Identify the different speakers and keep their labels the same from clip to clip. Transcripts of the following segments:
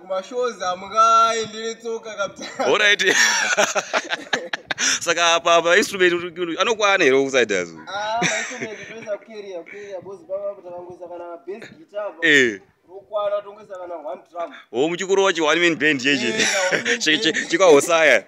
Speaker 1: kumashows amukai ndiri tsoka kabsaorit saka apa mainstrument anokwana here kusaidaz ah, eh. o muchikuru wacho one man band cheche eh, chikahosaya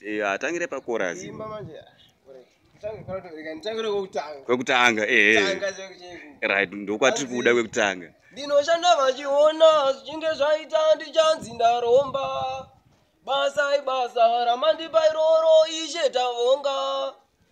Speaker 1: Eh, atangire pakorasi imba manje kwekutanga eh, eh. right ndokwatiri kuda kwekutanga ndinoshanda vachiona zvichinge zvaita ndichanzi ndaromba basa ibasa ramandipa iroro ishe tavonga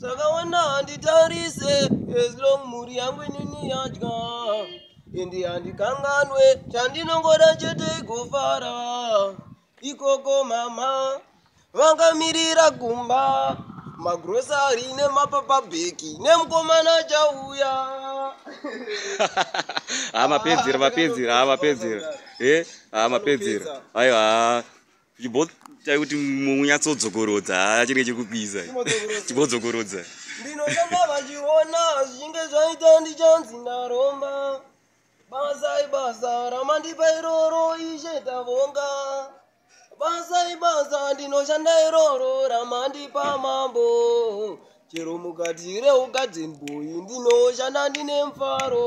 Speaker 1: zvakawanda handitarise as long mhuri yangu inini yadya ende handikanganwe chandinongoda chete igofara ikoko mama vangamirira kumba magrosari nemapapa bheki nemukomana chauya ha mapedzera mapedzera ha mapedzera e ha mapedzera aiwa Chibo chai kuti munyatsodzokoroza achiri chekupisa chibodzokorodza ndinotamba vachiona zvichinge zvaita ndichanzi ndaromba basa ibasa ramandipa iroro ishe tavonga basa ibasa ndinoshanda iroro ramandipa mambo chero mukati reugadzin boyi ndinoshanda ndine mfaro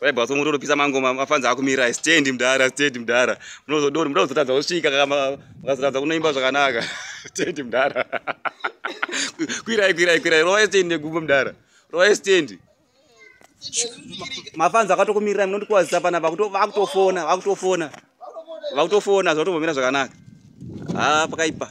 Speaker 1: vaibva so mutonopisa mangoma mafanzi akumirai stand mdara stand mdara munozodori muda kuzotadza kusvika makazotadza kunoimba zvakanaka stand mdara kwirai kwirai kwirai rova stand negumbo mdara rova stand mafanzi akatokumirirai munondikuwazisa pana vakutofona vakutofona vakutofona zvatombomira zvakanaka ha pakaipa